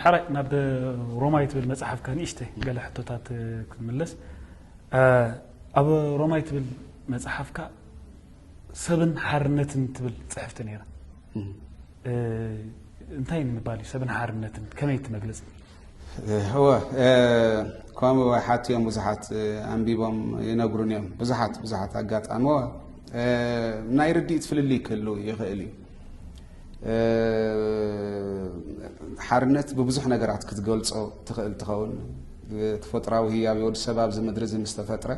ሕራይ ናብ ሮማይ ትብል መጽሓፍካ ንእሽተይ ገለ ሕቶታት ክምለስ ኣብ ሮማይ ትብል መጽሓፍካ ሰብን ሓርነትን ትብል ጽሕፍቲ ነይራ እንታይ ንምባል እዩ ሰብን ሓርነትን ከመይ ትመግለጽ እወ ከምኡ ሓት እዮም ብዙሓት ኣንቢቦም ይነግሩን እዮም ብዙሓት ብዙሓት ኣጋጣሚ ናይ ርድኢት ፍልልይ ክህሉ ይኽእል እዩ ሓርነት ብብዙሕ ነገራት ክትገልጾ ትኽእል ትኸውን ተፈጥራዊ ህያብ ወዲ ሰብ ኣብዚ ምድሪ እዚ ምስ ተፈጥረ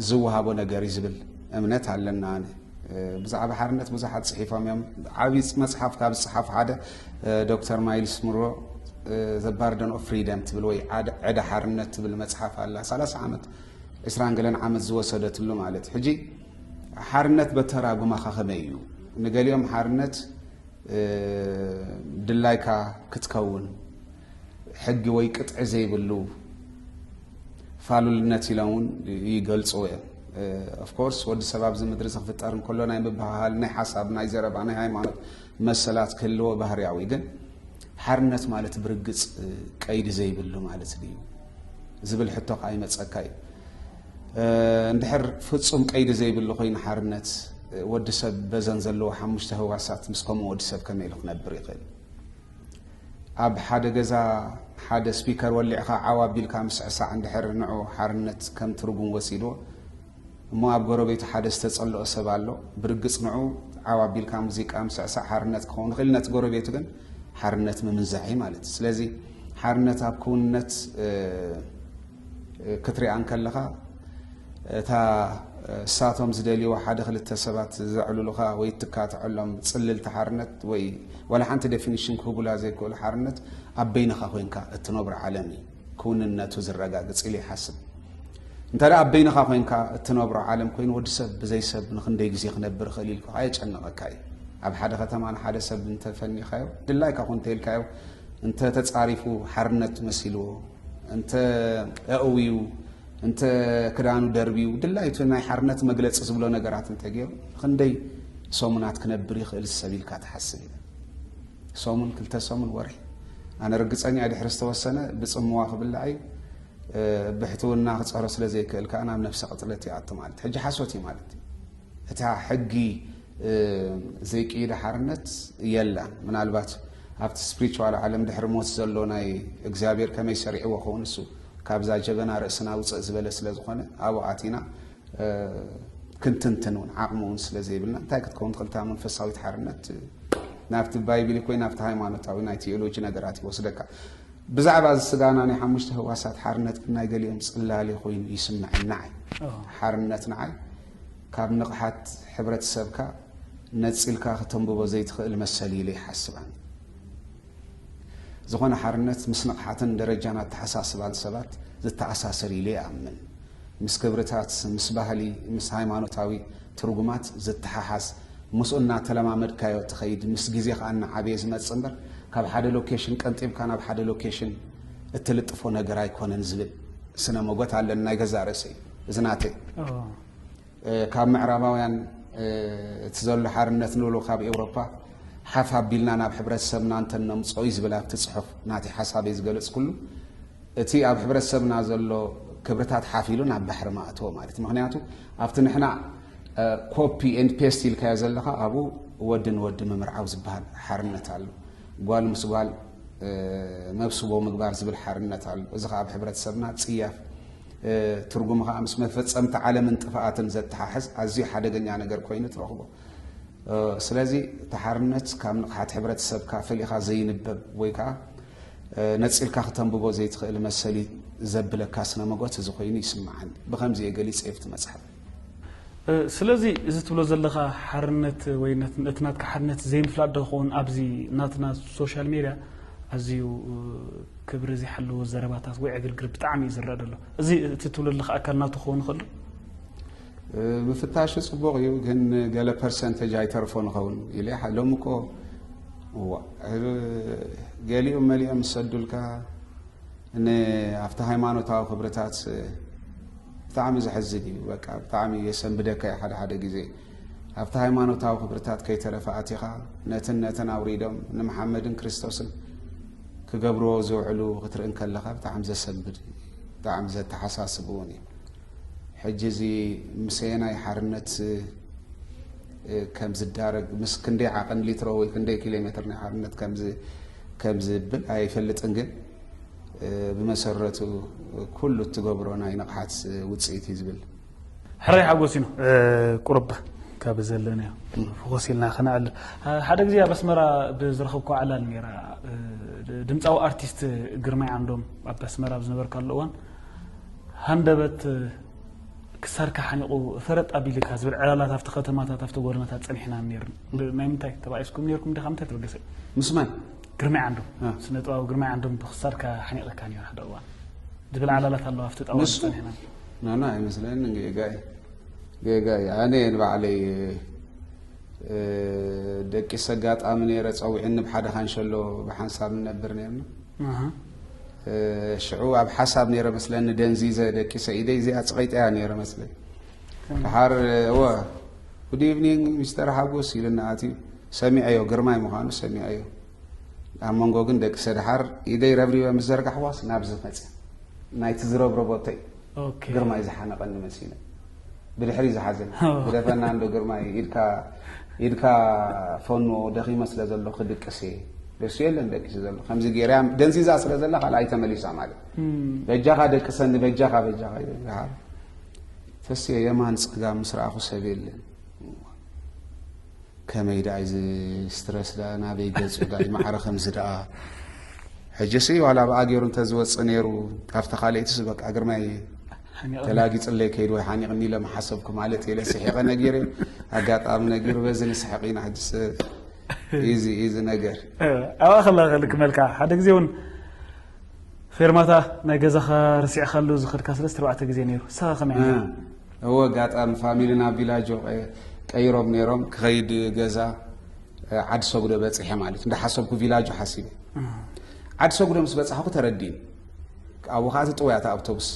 ዝወሃቦ ነገር እዩ ዝብል እምነት ኣለና ኣነ ብዛዕባ ሓርነት ብዙሓት ጽሒፎም እዮም ዓብዪ መጽሓፍ ካብ ዝጽሓፉ ሓደ ዶክተር ማይልስ ምሮ ዘባርደን ኦፍ ፍሪደም ትብል ወይ ዕዳ ሓርነት ትብል መጽሓፍ ኣላ 30 ዓመት ዕስራን ገለን ዓመት ዝወሰደትሉ ማለት ሕጂ ሓርነት በተራጉማካ ከመይ እዩ ንገሊኦም ሓርነት ድላይካ ክትከውን ሕጊ ወይ ቅጥዒ ዘይብሉ ፋሉልነት ኢሎም እውን ይገልፅዎ እዮም ኦፍኮርስ ወዲ ሰብ ኣብዚ ምድሪ እዚ ክፍጠር እንከሎ ናይ ምብሃሃል ናይ ሓሳብ ናይ ዘረባ ናይ ሃይማኖት መሰላት ክህልዎ ባህርያዊ ግን ሓርነት ማለት ብርግፅ ቀይዲ ዘይብሉ ማለት ድዩ ዝብል ሕቶ ከዓ ይመፀካ እዩ እንድሕር ፍጹም ቀይዲ ዘይብሉ ኮይኑ ሓርነት ወዲ ሰብ በዘን ዘለዎ ሓሙሽተ ህዋሳት ምስ ከምኡ ወዲ ሰብ ከመይ ኢሉ ክነብር ይኽእል? ኣብ ሓደ ገዛ ሓደ ስፒከር ወሊዕኻ ዓው ኣቢልካ ምስዕሳዕ እንድሕር ንዑ ሓርነት ከም ትርጉም ወሲድዎ እሞ ኣብ ጎረቤቱ ሓደ ዝተጸልኦ ሰብ ኣሎ ብርግጽ ንዑ ዓው ኣቢልካ ሙዚቃ ምስዕሳዕ ሓርነት ክኸውን ይኽእል ነቲ ጎረቤቱ ግን ሓርነት ምምንዛዕ እዩ ማለት እዩ ስለዚ ሓርነት ኣብ ክውንነት ክትሪኣ እንከለኻ እታ እሳቶም ዝደልይዋ ሓደ ክልተ ሰባት ዘዕልሉኻ ወይ እትካትዐሎም ጽልልቲ ሓርነት ወይ ዋላ ሓንቲ ዴፊኒሽን ክህቡላ ዘይክእሉ ሓርነት ኣብ በይንኻ ኮንካ እትነብሮ ዓለም እዩ ክውንነቱ ዝረጋግጽ ኢሉ ይሓስብ እንተ ደኣ ኣብ በይንኻ ኮንካ እትነብሮ ዓለም ኮይኑ ወዲ ሰብ ብዘይ ሰብ ንክንደይ ግዜ ክነብር ይኽእል ኢልካ ኣየጨነቐካ እዩ ኣብ ሓደ ከተማ ንሓደ ሰብ እንተፈኒኻዮ ድላይካ ኮ እንተኢልካዮ እንተ ተጻሪፉ ሓርነት መሲልዎ፣ እንተ ኣእውዩ፣ እንተ ክዳኑ ደርብዩ ድላዩ እቲ ናይ ሓርነት መግለጺ ዝብሎ ነገራት እንተ ገይሩ ንኽንደይ ሰሙናት ክነብር ይኽእል ሰብ ኢልካ ትሓስብ ኢለ። ሰሙን፣ ክልተ ሰሙን፣ ወርሒ ኣነ ርግጸኛ እየ ድሕሪ ዝተወሰነ ብጽምዋ ክብላዕ እዩ። ብሕትውና ክጸሮ ስለ ዘይክእል ከኣ ናብ ነብሰ ቅትለት ይኣቱ ማለት እዩ። ሕጂ ሓሶት እዩ ማለት እዩ። እታ ሕጊ ዘይቅይዳ ሓርነት የላን። ምናልባት ኣብቲ ስፕሪቹዋል ዓለም ድሕሪ ሞት ዘሎ ናይ እግዚኣብሔር ከመይ ሰሪዕዎ ኸውን እሱ ካብዛ ጀበና ርእስና ውፅእ ዝበለ ስለ ዝኾነ ኣብኡ ኣቲና ክንትንትን እውን ዓቕሚ እውን ስለ ዘይብልና እንታይ ክትከውን ትኽእል እታ መንፈሳዊት ሓርነት ናብቲ ባይብል ኮይ ናብቲ ሃይማኖታዊ ናይ ቴዎሎጂ ነገራት ይወስደካ ብዛዕባ እዚ ስጋና ናይ ሓሙሽተ ህዋሳት ሓርነት ግን ናይ ገሊኦም ጽላሊ ኮይኑ ይስምዐና ዓይ ሓርነት ንዓይ ካብ ንቕሓት ሕብረተሰብካ ነጺልካ ክተንብቦ ዘይትኽእል መሰል እዩ ኢለ ይሓስብ ኣነ። ዝኾነ ሓርነት ምስ ንቕሓትን ደረጃን ኣተሓሳስባን ሰባት ዝተኣሳሰር እዩ ኢለ ይኣምን። ምስ ክብርታት፣ ምስ ባህሊ፣ ምስ ሃይማኖታዊ ትርጉማት ዝተሓሓዝ፣ ምስኡ እናተለማመድካዮ ትኸይድ፣ ምስ ግዜ ከኣ እናዓበየ ዝመጽእ እምበር ካብ ሓደ ሎኬሽን ቀንጢብካ ናብ ሓደ ሎኬሽን እትልጥፎ ነገር ኣይኮነን ዝብል ስነ ሞጎት ኣለኒ ናይ ገዛእ ርእሰይ። እዚ ናተይ ካብ ምዕራባውያን እቲ ዘሎ ሓርነት ንብሎ ካብ ኤውሮፓ ሓፍ ኣቢልና ናብ ሕብረተሰብና እንተነምፅኦ እዩ ዝብል ኣብቲ ፅሑፍ ናተይ ሓሳብ እዩ ዝገለፅኩሉ እቲ ኣብ ሕብረተሰብና ዘሎ ክብርታት ሓፍ ኢሉ ናብ ባሕሪ ማእተወ ማለት እዩ ምክንያቱ ኣብቲ ንሕና ኮፒ ኤንድ ፔስት ኢልካዮ ዘለካ ኣብኡ ወዲ ንወዲ ምምርዓው ዝበሃል ሓርነት ኣሎ ጓል ምስ ጓል መብስቦ ምግባር ዝብል ሓርነት ኣሎ እዚ ከዓ ኣብ ሕብረተሰብና ፅያፍ ትርጉሙ ከኣ ምስ መፈጸምታ ዓለምን ጥፍኣትን ዘተሓሕዝ ኣዝዩ ሓደገኛ ነገር ኮይኑ ትረኽቦ። ስለዚ እቲ ሓርነት ካብ ንቕሓት ሕብረተሰብካ ፈሊኻ ዘይንበብ ወይ ከኣ ነጺልካ ክተንብቦ ዘይትኽእል መሰል እዩ ዘብለካ ስነ መጎት እዚ ኮይኑ ይስምዓኒ። ብኸምዚ እየ ገሊጸ ይብቲ መጽሓፍ። ስለዚ እዚ ትብሎ ዘለኻ ሓርነት ወይ እቲ ናትካ ሓርነት ዘይምፍላጥ ዶ ክኸውን ኣብዚ ናትና ሶሻል ሜድያ ኣዝዩ ክብሪ ዘይሓለዎ ዘረባታት ወይ ዕግርግር ብጣዕሚ እዩ ዝረኣ ዘሎ እዚ እቲ ትብሎ ዘለኻ ኣካል ናቱ ክኸውን ይኽእሉ ምፍታሹ ጽቡቕ እዩ ግን ገለ ፐርሰንተጅ ኣይተርፎ ንኸውን ኢለ ሎሚ እኮ ገሊኦም መሊኦም ዝሰዱልካ ኣብቲ ሃይማኖታዊ ክብርታት ብጣዕሚ ዘሕዝን እዩ በቃ ብጣዕሚ የሰንብደካ እዩ ሓደ ሓደ ግዜ ኣብቲ ሃይማኖታዊ ክብርታት ከይተረፈ ኣቲኻ ነትን ነትን ኣውሪዶም ንመሓመድን ክርስቶስን ክገብርዎ ዝውዕሉ ክትርኢ እንከለኻ ብጣዕሚ ዘሰንብድ እዩ ብጣዕሚ ዘተሓሳስብ እውን እዩ ሕጂ እዚ ምሰየናይ ሓርነት ከም ዝዳረግ ምስ ክንደይ ዓቐን ሊትሮ ወይ ክንደይ ኪሎ ሜትር ናይ ሓርነት ከምዝብል ኣይፈልጥን ግን ብመሰረቱ ኩሉ እትገብሮ ናይ ንቕሓት ውፅኢት እዩ ዝብል ሕራይ ሓጎስ ኢኑ ቁርብ ካብ ዘለናዮ ፍኾስ ኢልና ክነዕል ሓደ ግዜ ኣብ ኣስመራ ብዝረኸብኩ ዓላል ነይራ ድምፃዊ ኣርቲስት ግርማይ ዓንዶም ኣብ ኣስመራ ኣብ ዝነበርካሉ እዋን ሃንደበት ክሳድካ ሓኒቑ ፈረጥ ኣቢልካ ዝብል ዕላላት ኣብቲ ከተማታት ኣብቲ ጎደናታት ፀኒሕና ነይርና ናይ ምንታይ ተባኢስኩም ነይርኩም ዲኻ ምንታይ ተበገሰ ምስማይ ግርማይ ዓንዶም ስነ ጥበባዊ ግርማይ ዓንዶም ብክሳድካ ሓኒቐካ ነይሩ ሓደ እዋን ዝብል ዓላላት ኣለዋ ኣብቲ ጣዋ ንሱ ናና ኣይመስለኒ ጌጋ እዩ ጌጋ እዩ ኣነ ንባዕለይ ደቂ ሰጋጣሚ ነይረ ፀዊዕኒ ብሓደ ካንሸሎ ብሓንሳብ ንነብር ነርና ሽዑ ኣብ ሓሳብ ነይረ መስለኒ ደንዚዘ ደቂ ሰኢደይ እዚኣ ፅቐይጠያ ነይረ መስለኝ ድሓር እወ ጉድ ኢቭኒንግ ሚስተር ሓጎስ ኢልና ኣትዩ ሰሚዐዮ ግርማይ ምዃኑ ሰሚዐዮ ኣብ መንጎ ግን ደቂ ሰድሓር ኢደይ ረብሪበ ምስ ዘርጋሕዋስ ናብዚ መፅያ ናይቲ ዝረብረቦተይ ግርማይ ዝሓነቐኒ መሲለ ብድሕሪ ዝሓዘኒ ግደፈና እንዶ ግርማይ ኢድካ ፈኖ ደኺመ ስለ ዘሎ ክድቅስ እየ ደሱ የለን ደቂሱ ዘሎ ከምዚ ገይራ ደንዚዛ ስለ ዘላ ካልኣ ኣይተመሊሳ ማለት በጃኻ ደቅሰኒ በጃኻ በጃኻ ይበሃል ተስዮ የማን ፀጋም ምስ ረኣኹ ሰብ የለን ከመይ ዳኣ እዚ ስትረስ ዳኣ ናበይ ገጹ ዳኣ እዩ ማዕረ ከምዚ ዳኣ ሕጂሲ ዋላ ብኣ ገይሩ እንተዝወጽእ ነይሩ ካብቲ ካልእትስ በቃ ግርማይ ተላጊጽለይ ከይዱ ወይ ሓኒቕኒ ኢለ ምሓሰብኩ ማለት እየ ኢለ ስሒቐ ነጊረ ኣጋጣሚ ነጊሩ በዚ ንስሕቕ ኢና ሕጂ እዚ እዚ ነገር ኣብኣ ከላ ክልክመልካ ሓደ ግዜ እውን ፌርማታ ናይ ገዛኻ ረሲዕካሉ ዝኸድካ ሰለስተ ኣርባዕተ ግዜ ነይሩ ንስኻ ከመይ ኔርካ? እወ ኣጋጣሚ ፋሚሊ ናብ ቪላጆ ቀይሮም ነይሮም ክኸይድ ገዛ ዓዲ ሰጉዶ በፂሐ ማለት እንዳሓሰብኩ ቪላጆ ሓሲበ ዓዲ ሰጉዶ ምስ በፃሕኩ ተረዲእኒ ኣብኡ ከዓ እቲ ጥውያ እቲ ኣውቶቡስ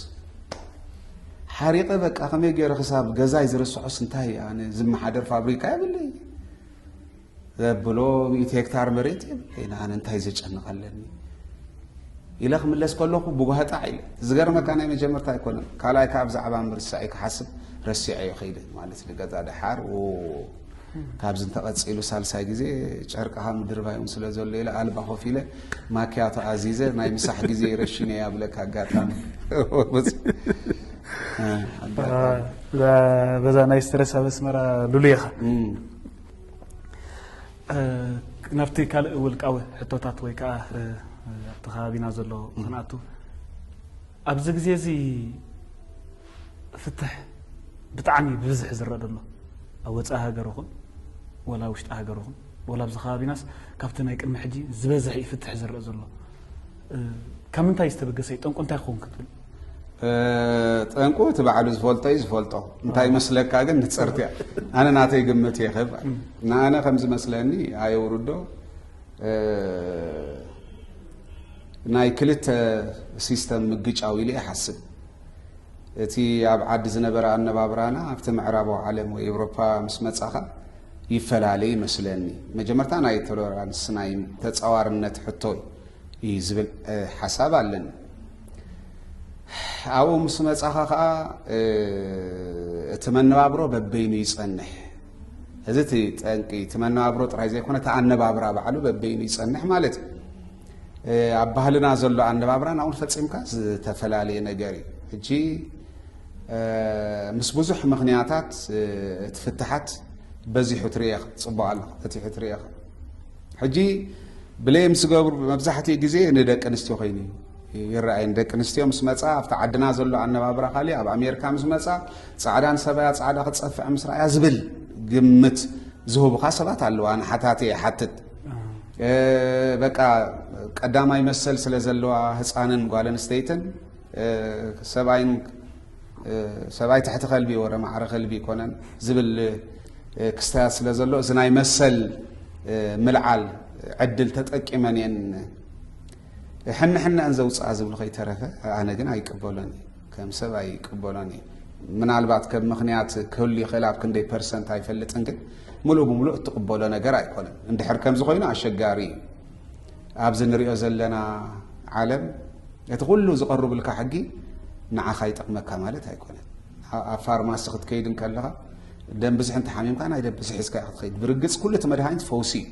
ሓሪቐ በቃ ከመይ ገይረ ክሳብ ገዛይ ዝርስዖስ እንታይ ኣነ ዝመሓደር ፋብሪካ የብለይ ዘብሎ ሚእቲ ሄክታር መሬት እየ ኣነ እንታይ ዘጨንቕ ኣለኒ ኢለ ክምለስ ከለኹ ብጓህጣዕ ኢለ ዝገርመካ ናይ መጀመርታ ኣይኮነን ካልኣይ ከዓ ብዛዕባ ምርሳዕ እዩ ክሓስብ ረሲዐዮ ከይደ ማለት ንገዛ ድሓር ካብዚ እንተቐፂሉ ሳልሳይ ግዜ ጨርቅኻ ምድርባዮም ስለ ዘሎ ኢለ ኣልባ ኮፍ ኢለ ማኪያቶ ኣዚዘ ናይ ምሳሕ ግዜ ረሽነ እያ ብለካ ኣጋጣሚ በዛ ናይ ስትረስ ኣብ ኣስመራ ሉሉ ኢኻ ናብቲ ካልእ ውልቃዊ ሕቶታት ወይ ከዓ ኣብቲ ከባቢና ዘሎ ክንኣቱ ኣብዚ ግዜ እዚ ፍትሕ ብጣዕሚ ብብዝሒ ዝረአ ዘሎ ኣብ ወፃኢ ሃገር ይኹን ወላ ውሽጢ ሃገር ይኹን ወላ ኣብዚ ከባቢናስ ካብቲ ናይ ቅድሚ ሕጂ ዝበዝሐ እዩ ፍትሕ ዝረአ ዘሎ ካብ ምንታይ ዝተበገሰ እዩ ጠንቁ እንታይ ክኸውን ክትብል? ጠንቁ እቲ ባዕሉ ዝፈልጦ እዩ ዝፈልጦ እንታይ መስለካ ግን ንፅርቲ እያ ኣነ ናተይ ግምት እየ ክብ ንኣነ ከም ዝመስለኒ ኣየውርዶ ናይ ክልተ ሲስተም ምግጫው ኢሉ ይሓስብ እቲ ኣብ ዓዲ ዝነበረ ኣነባብራና ኣብቲ ምዕራባዊ ዓለም ወይ ኤውሮፓ ምስ መፃኻ ይፈላለ ይመስለኒ መጀመርታ ናይ ቶለራንስ ናይ ተፃዋርነት ሕቶ እዩ እዩ ዝብል ሓሳብ ኣለኒ ኣብኡ ምስ መጻኻ ከዓ እቲ መነባብሮ በበይኑ ይጸንሕ እዚ እቲ ጠንቂ እቲ መነባብሮ ጥራይ ዘይኮነ እቲ ኣነባብራ ባዕሉ በበይኑ ይጸንሕ ማለት እዩ ኣብ ባህልና ዘሎ ኣነባብራን ኣብኡን ፈጺምካ ዝተፈላለየ ነገር እዩ ሕጂ ምስ ብዙሕ ምክንያታት እቲ ፍትሓት በዚሑ ትርኤ ጽቡቕ ኣሎ ፈቲሑ ትርኤ ሕጂ ብሌም ዝገብሩ መብዛሕትኡ ግዜ ንደቂ ኣንስትዮ ኮይኑ ይረኣየን ደቂ ኣንስትዮ ምስ መፃ ኣብቲ ዓድና ዘሎ ኣነባብራ ካሊእ ኣብ ኣሜሪካ ምስ መፃ ፃዕዳን ሰበያ ፃዕዳ ክፀፍዕ ምስ ረኣያ ዝብል ግምት ዝህቡካ ሰባት ኣለዋ ንሓታቲ ይሓትት በቃ ቀዳማይ መሰል ስለ ዘለዋ ህፃንን ጓል ኣንስተይትን ሰብኣይን ሰብኣይ ትሕቲ ከልቢ ወረ ማዕረ ከልቢ ይኮነን ዝብል ክስታያት ስለ ዘሎ እዚ ናይ መሰል ምልዓል ዕድል ተጠቂመን እየን ሕንሕነአን ዘውፅኣ ዝብሉ ከይተረፈ ኣነ ግን ኣይቅበሎን እዩ ከም ሰብ ኣይቅበሎን እዩ ምናልባት ከም ምክንያት ክህሉ ይኽእል ኣብ ክንደይ ፐርሰንት ኣይፈልጥን ግን ሙሉእ ብምሉእ እትቕበሎ ነገር ኣይኮነን እንድሕር ከምዚ ኮይኑ ኣሸጋሪ እዩ ኣብዚ ንሪኦ ዘለና ዓለም እቲ ኩሉ ዝቐርብልካ ሕጊ ንዓኻ ይጠቕመካ ማለት ኣይኮነን። ኣብ ፋርማሲ ክትከይድ እንከለኻ ደም ብዝሒ እንተሓሚምካ ናይ ደም ብዝሒ ሒዝካ ክትኸይድ ብርግፅ ኩሉ እቲ መድሃኒት ፈውሲ እዩ።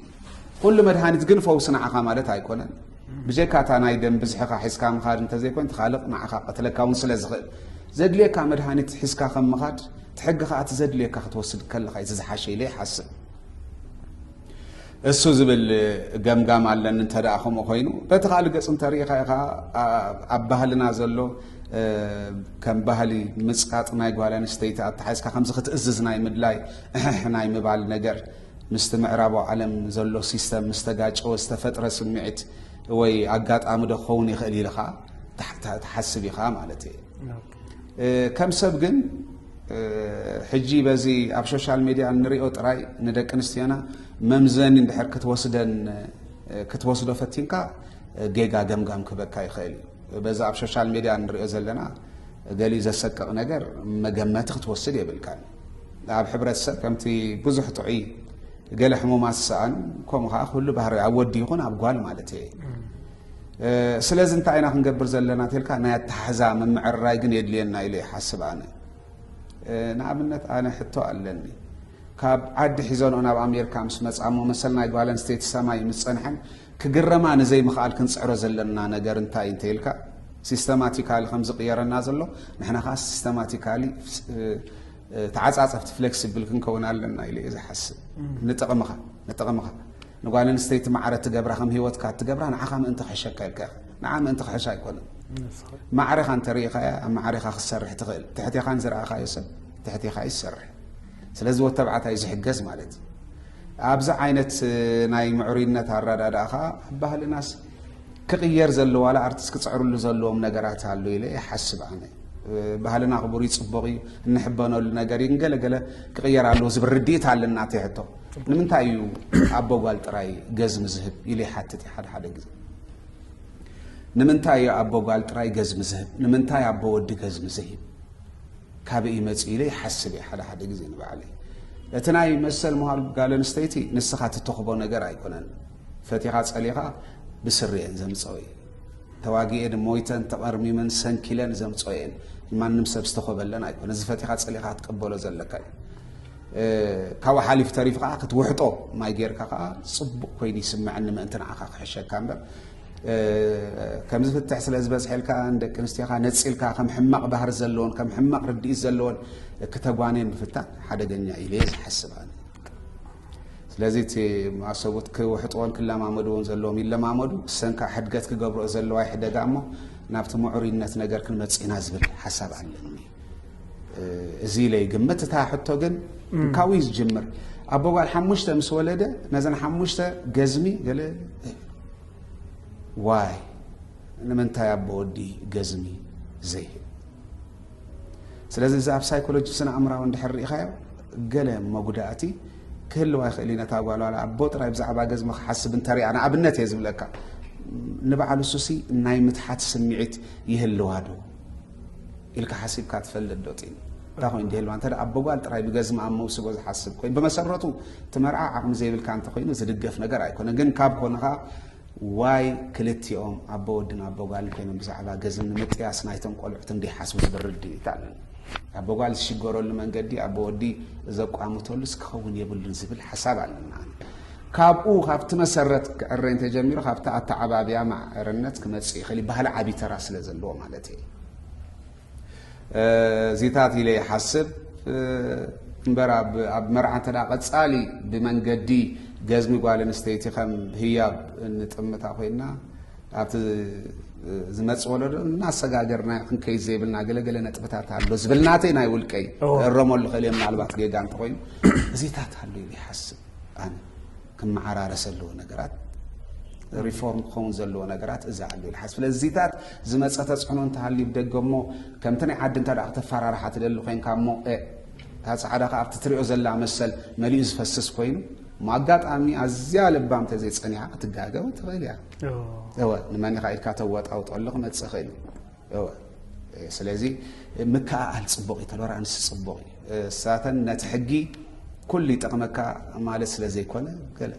ኩሉ መድሃኒት ግን ፈውሲ ንዓኻ ማለት ኣይኮነን። ብጀካ እታ ናይ ደም ብዝሕኻ ሒዝካ ምኻድ እንተዘይኮይን ትኻልቕ ንዓኻ ቀትለካ እውን ስለ ዝኽእል ዘድልየካ መድሃኒት ሒዝካ ከም ምኻድ እቲ ሕጊ ከዓ እቲ ዘድልየካ ክትወስድ ከለኻ እዩ ዝዝሓሸ ኢለ ይሓስብ። እሱ ዝብል ገምጋም ኣለኒ እንተ ከምኡ ኮይኑ በቲ ካልእ ገፅ እንተሪኢኻ ኢኻ ኣብ ባህልና ዘሎ ከም ባህሊ ምፅቃጥ ናይ ጓል ኣንስተይቲ ኣተሓዝካ ከምዚ ክትእዝዝ ናይ ምድላይ እሕሕ ናይ ምባል ነገር ምስቲ ምዕራቡ ዓለም ዘሎ ሲስተም ምስ ተጋጨወ ዝተፈጥረ ስምዒት ወይ ኣጋጣሚ ዶ ክኸውን ይኽእል ኢልኻ ትሓስብ ኢኻ ማለት እየ ከም ሰብ ግን ሕጂ በዚ ኣብ ሶሻል ሚድያ እንሪኦ ጥራይ ንደቂ ኣንስትዮና መምዘኒ እንድሕር ክትወስደን ክትወስዶ ፈቲንካ ጌጋ ገምጋም ክበካ ይኽእል እዩ በዚ ኣብ ሶሻል ሚድያ እንሪኦ ዘለና ገሊ ዘሰቅቕ ነገር መገመቲ ክትወስድ የብልካን ኣብ ሕብረተሰብ ከምቲ ብዙሕ ጥዑይ ገለ ሕሙማት ዝሰኣኑ ከምኡ ከዓ ኩሉ ባህሪ ኣብ ወዲ ይኹን ኣብ ጓል ማለት እየ ስለዚ እንታይ ኢና ክንገብር ዘለና ተልካ ናይ ኣተሓሕዛ ምምዕርራይ ግን የድልየና ኢለ ይሓስብ ኣነ ንኣብነት ኣነ ሕቶ ኣለኒ ካብ ዓዲ ሒዘንኦ ናብ ኣሜሪካ ምስ መፃሞ መሰል ናይ ጓል ኣንስተይቲ ሰማይ ምስ ፀንሐን ክግረማ ንዘይምኽኣል ክንፅዕሮ ዘለና ነገር እንታይ እንተይልካ ሲስተማቲካሊ ከም ዝቕየረና ዘሎ ንሕና ከዓ ሲስተማቲካሊ ተዓፃፀፍቲ ፍሌክሲብል ክንከውን ኣለና ኢለ እየ ዝሓስብ ንጥቕምኻ ንጥቕምኻ ንጓል ኣንስተይቲ ማዕረ ትገብራ ከም ሂወትካ ትገብራ ንዓኻ ምእንቲ ክሕሸካ ኢልካ ንዓ ምእንቲ ክሕሻ ኣይኮነን ማዕሬኻ እንተርእኻያ ኣብ ማዕሬኻ ክትሰርሕ ትኽእል ትሕቴኻ ንዝረኣኻዮ ሰብ ትሕቴኻ እዩ ዝሰርሕ ስለዚ ወተብዓታይ ዝሕገዝ ማለት እዩ ኣብዚ ዓይነት ናይ ምዕሩይነት ኣረዳድኣ ከዓ ባህልናስ ክቕየር ዘለዎ ዋላ ኣርቲስት ክጽዕርሉ ዘለዎም ነገራት ኣሎ ኢለ ይሓስብ ኣነ ባህልና ክቡር እዩ ፅቡቕ እዩ እንሕበነሉ ነገር እዩ ገለ ገለ ክቕየር ኣለዎ ዝብል ርድኢት ኣለና እቲ ሕቶ ንምንታይ እዩ ኣቦ ጓል ጥራይ ገዝሚ ዝህብ ኢሉ ይሓትት እዩ ሓደ ሓደ ግዜ ንምንታይ እዩ ኣቦ ጓል ጥራይ ገዝሚ ዝህብ ንምንታይ ኣቦ ወዲ ገዝሚ ዘይህብ ካበይ ይመፅ ኢለ ይሓስብ እየ ሓደ ሓደ ግዜ ንባዕለይ እቲ ናይ መሰል ምሃር ጋል ኣንስተይቲ ንስኻ ትተኽቦ ነገር ኣይኮነን ፈቲኻ ጸሊኻ ብስሪኤን ዘምጸኦ እዩ ተዋጊኤን ሞይተን ተቐርሚመን ሰንኪለን ዘምጸኦ እየን ማንም ሰብ ዝተኾበለን ኣይኮነ እዚ ፈቲኻ ጸሊኻ ክትቀበሎ ዘለካ እዩ ካብኡ ሓሊፍ ተሪፍ ከዓ ክትውሕጦ ማይ ጌርካ ከዓ ፅቡቅ ኮይኑ ይስምዐኒ ምእንቲ ንዓኻ ክሕሸካ እምበር ከምዚ ፍትሕ ስለ ዝበዝሐልካ ንደቂ ኣንስትዮካ ነፂልካ ከም ሕማቕ ባህሪ ዘለዎን ከም ሕማቕ ርድኢት ዘለዎን ክተጓንየን ምፍታን ሓደገኛ ኢለ ዝሓስብ ስለዚ እቲ ኣሰቡት ክውሕጥዎን ክለማመድዎን ዘለዎም ይለማመዱ እሰን ከዓ ሕድገት ክገብርኦ ዘለዋ ይሕደጋ እሞ ናብቲ ምዑርይነት ነገር ክንመፅእ ኢና ዝብል ሓሳብ ኣለኒ እዚ ኢለይ ግምት እታ ሕቶ ግን ካብኡ እዩ ዝጅምር ኣቦ ጓል ሓሙሽተ ምስ ወለደ ነዘን ሓሙሽተ ገዝሚ ገለ ዋይ ንምንታይ ኣቦ ወዲ ገዝሚ ዘይህብ ስለዚ እዚ ኣብ ሳይኮሎጂ ስነ ኣእምራዊ እንድሕር ርኢኻዮ ገለ መጉዳእቲ ክህልዋ ይኽእል እዩ ነታ ጓል ዋላ ኣቦ ጥራይ ብዛዕባ ገዝሚ ክሓስብ እንተሪኣ ንኣብነት እየ ዝብለካ ንበዓሉ ሱሲ ናይ ምትሓት ስምዒት ይህልዋ ዶ ኢልካ ሓሲብካ ትፈልጥ ዶ ጢን እታ ኮይኑ ድህልዋ እንተ ኣቦ ጓል ጥራይ ብገዝሚ ኣብ መውስቦ ዝሓስብ ኮይኑ ብመሰረቱ እቲ መርዓ ዓቕሚ ዘይብልካ እንተኮይኑ ዝድገፍ ነገር ኣይኮነ ግን ካብ ኮንኻ ዋይ ክልቲኦም ኣቦ ወድን ኣቦ ጓልን ኮይኖም ብዛዕባ ገዝን ንምጥያስ ናይቶም ቆልዑት እንዲሓስቡ ዝብል ርድኢት ኣለኒ ኣቦ ጓል ዝሽገረሉ መንገዲ ኣቦ ወዲ ዘቋምተሉስ ክኸውን የብሉን ዝብል ሓሳብ ኣለና ካብኡ ካብቲ መሰረት ክዕረ እንተጀሚሩ ካብቲ ኣተዓባብያ ማዕርነት ክመፅእ ይኽእል ባህሊ ዓብዪ ተራ ስለ ዘለዎ ማለት እዩ ዚታት ኢለ ይሓስብ እምበር ኣብ መርዓ እተ ቀፃሊ ብመንገዲ ገዝሚ ጓል ኣንስተይቲ ከም ህያብ እንጥምታ ኮይና ኣብቲ ዝመፅ ወለዶ እናሰጋገርና ክንከይ ዘይብልና ገለገለ ነጥብታት ኣሎ ዝብል ናተይ ናይ ውልቀይ እረመሉ ክእል እየ ምናልባት ጌጋ እንተኮይኑ እዚታት ኣሉ ይሓስብ ኣነ ክመዓራረስ ዘለዎ ነገራት ሪፎርም ክኸውን ዘለዎ ነገራት እዚ ኣሎ ኢሉ ሓስብ ስለዚታት ዝመፀ ተፅዕኖ እንተሃልዩ ብደገ እሞ ከምቲ ናይ ዓዲ እንተ ክተፈራርሓ ትደሊ ኮንካ እሞ እታ ፃዕዳ ከዓ ኣብቲ ትሪኦ ዘላ መሰል መሊኡ ዝፈስስ ኮይኑ እሞ ኣጋጣሚ ኣዝያ ልባም ተዘይፀኒዓ ክትጋገ እውን ትኽእል እያ እወ ንመን ኢኻ ኢልካ ተወጣውጦ ኣሎ ክመፅእ ይኽእል እዩ እወ ስለዚ ምክእኣል ጽቡቕ እዩ ተሎራንስ ጽቡቕ እዩ እሳተን ነቲ ሕጊ ኩሉ ይጠቕመካ ማለት ስለ ዘይኮነ ገለ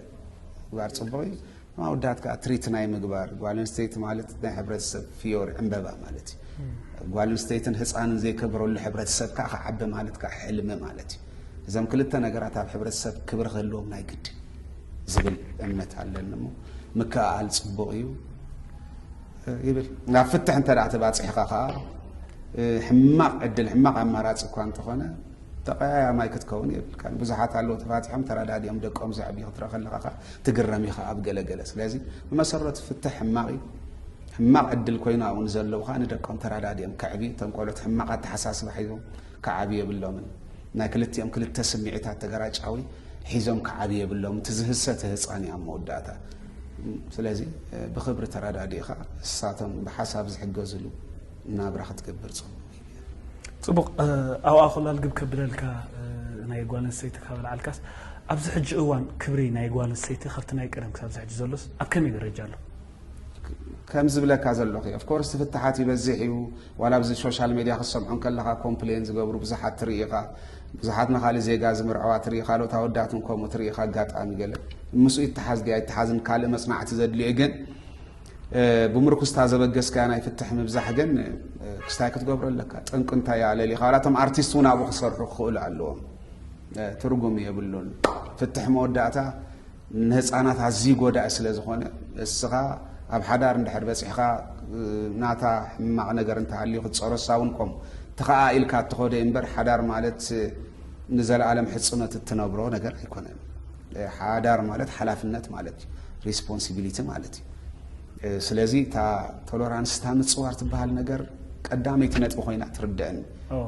ግባር ጽቡቕ እዩ ማውዳት ከዓ ትሪት ናይ ምግባር ጓል ኣንስተይቲ ማለት ናይ ሕብረተሰብ ፍዮሪ ዕምበባ ማለት እዩ ጓል ኣንስተይትን ህፃንን ዘይከብረሉ ሕብረተሰብ ከዓ ክዓቢ ማለት ከዓ ሕልሚ ማለት እዩ እዞም ክልተ ነገራት ኣብ ሕብረተሰብ ክብሪ ክህልዎም ናይ ግዲ ዝብል እምነት ኣለኒ እሞ ምክእኣል ፅቡቕ እዩ ይብል። ናብ ፍትሕ እንተ ተባፂሕኻ ከዓ ሕማቕ ዕድል ሕማቕ ኣማራፂ እኳ እንተኾነ ተቀያያማይ ክትከውን የብልካን ብዙሓት ኣለዉ ተፋቲሖም ተረዳዲኦም ደቆም ዘዕብዩ ክትረአ ከለካ ከዓ ትግረም ኢኻ ኣብ ገለገለ ስለዚ ብመሰረቱ ፍትሕ ሕማቕ እዩ ሕማቕ ዕድል ኮይኑ ኣብኡ ንዘለዉ ከዓ ንደቆም ተረዳዲኦም ከዕቢ እቶም ቆልዑት ሕማቕ ኣተሓሳስባ ሒዞም ክዓብ የብሎምን ናይ ክልቲኦም ክልተ ስምዒታት ተገራጫዊ ሒዞም ክዓብ የብሎም እቲ ዝህሰተ ህፃን እዩ ኣብ መወዳእታ ስለዚ ብኽብሪ ተረዳዲእኻ ንሳቶም ብሓሳብ ዝሕገዝሉ ናብራ ክትገብር ጽቡቕ ጽቡቕ ኣብኣ ኮላ ልግብ ከብለልካ ናይ ጓል ኣንስተይቲ ካብ ልዓልካስ ኣብዚ ሕጂ እዋን ክብሪ ናይ ጓል ኣንስተይቲ ካብቲ ናይ ቀደም ክሳብ ዝሕጂ ዘሎስ ኣብ ከመይ ደረጃ ኣሎ ከም ዝብለካ ዘለኹ እዩ ኦፍኮርስ ፍትሓት ይበዝሕ እዩ ዋላ ኣብዚ ሶሻል ሜድያ ክትሰምዖ ከለካ ኮምፕሌን ዝገብሩ ብዙሓት ትርኢ ኢኻ ብዙሓት ንካልእ ዜጋ ዝምርዐዋ ትርኢ፣ ካልኦት ኣወዳት እውን ከምኡ ትርኢ ኢኻ። ኣጋጣሚ ገለ ምስኡ ይተሓዝ ድዩ ኣይተሓዝን ካልእ መጽናዕቲ ዘድልዮ እዩ። ግን ብምርኩስታ ዘበገስካያ ናይ ፍትሕ ምብዛሕ ግን ክስታይ ክትገብሮ ኣለካ። ጠንቂ እንታይ እያ ኣለሊኻ ዋላ እቶም ኣርቲስት እውን ኣብኡ ክሰርሑ ክኽእሉ ኣለዎም። ትርጉም የብሉን ፍትሕ መወዳእታ ንህፃናት ኣዝዩ ጎዳኢ ስለ ዝኾነ እስኻ ኣብ ሓዳር እንድሕር በፂሕኻ ናታ ሕማቕ ነገር እንተሃልዩ ክትፀረሳ እውን ኮም ተኸኣ ኢልካ እትኸዶ እምበር ሓዳር ማለት ንዘለኣለም ሕፅኖት እትነብሮ ነገር ኣይኮነን። ሓዳር ማለት ሓላፍነት ማለት እዩ፣ ሪስፖንሲቢሊቲ ማለት እዩ። ስለዚ እታ ቶለራንስ እታ ምፅዋር ትበሃል ነገር ቀዳመይቲ ነጥቢ ኮይና ትርድእን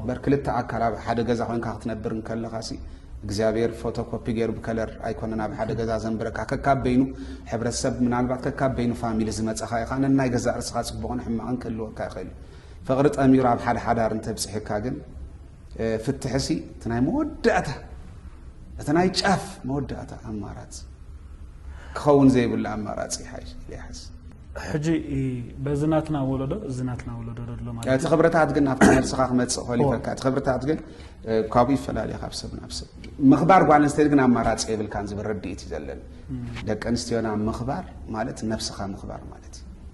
በር ክልተ ኣካል ኣብ ሓደ ገዛ ኮይንካ ክትነብር እንከለካ እግዚኣብሔር ፎቶኮፒ ገይሩ ብከለር ኣይኮነን ኣብ ሓደ ገዛ ዘንብረካ ከካብ በይኑ ሕብረተሰብ ምናልባት ከካብ በይኑ ፋሚሊ ዝመፀኻ ኢኻ ነናይ ገዛ ርስኻ ፅቡቕን ሕማቕን ክህልወካ ይኽእል ፍቕሪ ጠሚሩ ኣብ ሓደ ሓዳር እንተብፅሕካ ግን ፍትሕሲ እቲ ናይ መወዳእታ እቲ ናይ ጫፍ መወዳእታ ኣማራፅ ክኸውን ዘይብሉ ኣማራፂ ይሓዝ ሕጂ በዚ ናትና ወለዶ እዚ ናትና ወለዶ ደሎ ማለት እቲ ክብርታት ግን ናብቲ መልስኻ ክመፅእ ክእል ይፈልካ እቲ ክብርታት ግን ካብኡ ይፈላለየ ካብ ሰብ ናብ ሰብ ምኽባር ጓል ኣንስተይቲ ግን ኣማራፂ የብልካን ዝብል ርድኢት እዩ ዘለኒ ደቂ ኣንስትዮና ምኽባር ማለት ነብስኻ ምኽባር ማለት